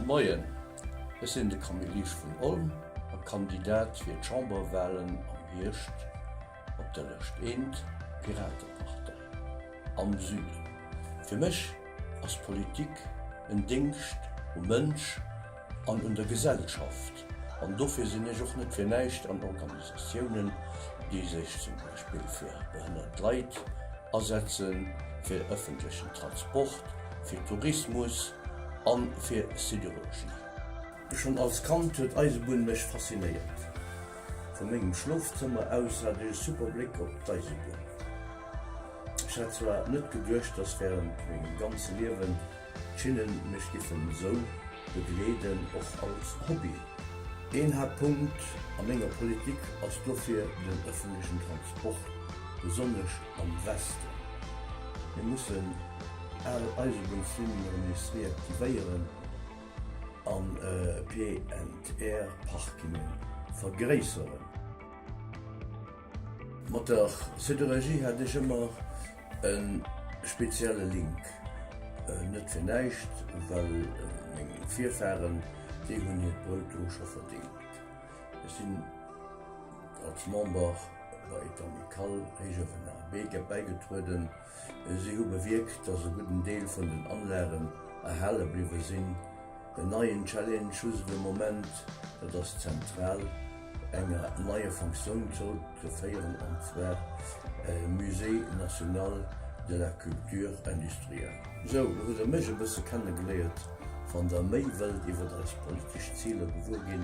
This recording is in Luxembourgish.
Moien, ech sinn de Camille Lies vun Olm a Kandidat fir d'Chamberwahlen am Hierscht op der Lëscht Eent, Piratepartei, am Süden. Fir mech ass Politik en Déngscht um Mënsch An un der Gesellschaft. An dofir sinn ech och net fir näischt an Organisatiounen, déi sech zum Beispill fir behënnert Leit asetzen, fir ëffentlechen Transport, fir Tourismus a fir Sidérurgie. Schonn als Kand huet d'Eisebunn mech faszinéiert. Vu mengem Schlofzëmmer aus hat ech e super Bléck op d'Eisebunn. Ech hätt zwar net geduecht, dass während mengem ganze Liewen d'Schinnen mech giffen esou begleeden, och als Hobby. Een Haaptpunkt a menger Politik ass dofir den ëffentlechen Transport, besonnesch am Westen. Mir mussen al Eisebunnslinnen erëm nees reaktivéieren an PNR-Parkingen vergréisseren. Mat der Sidérurgie hat ech ëmmer e spezielle Link, net fir näischt, well meng Virfaren, déi hunn hiert Brout do scho verdeelt. Ech sinn als Member bei d'Amicale Héichëwen a Beek bäigetrueden. Si hu bewierkt, dass e gudden Deel vun den Anlagen erhale bliwwe sinn. En neien Challenge hu se de Moment, dat ass d'Zentral enger neier Fonctioun zrëckzeféieren, an zwar e Musée national de la culture industrielle. Sou, lo hutt der mech e bësse kennegeléiert. Wann der méi wëllt iwwert eis politesch Ziler gewuer ginn,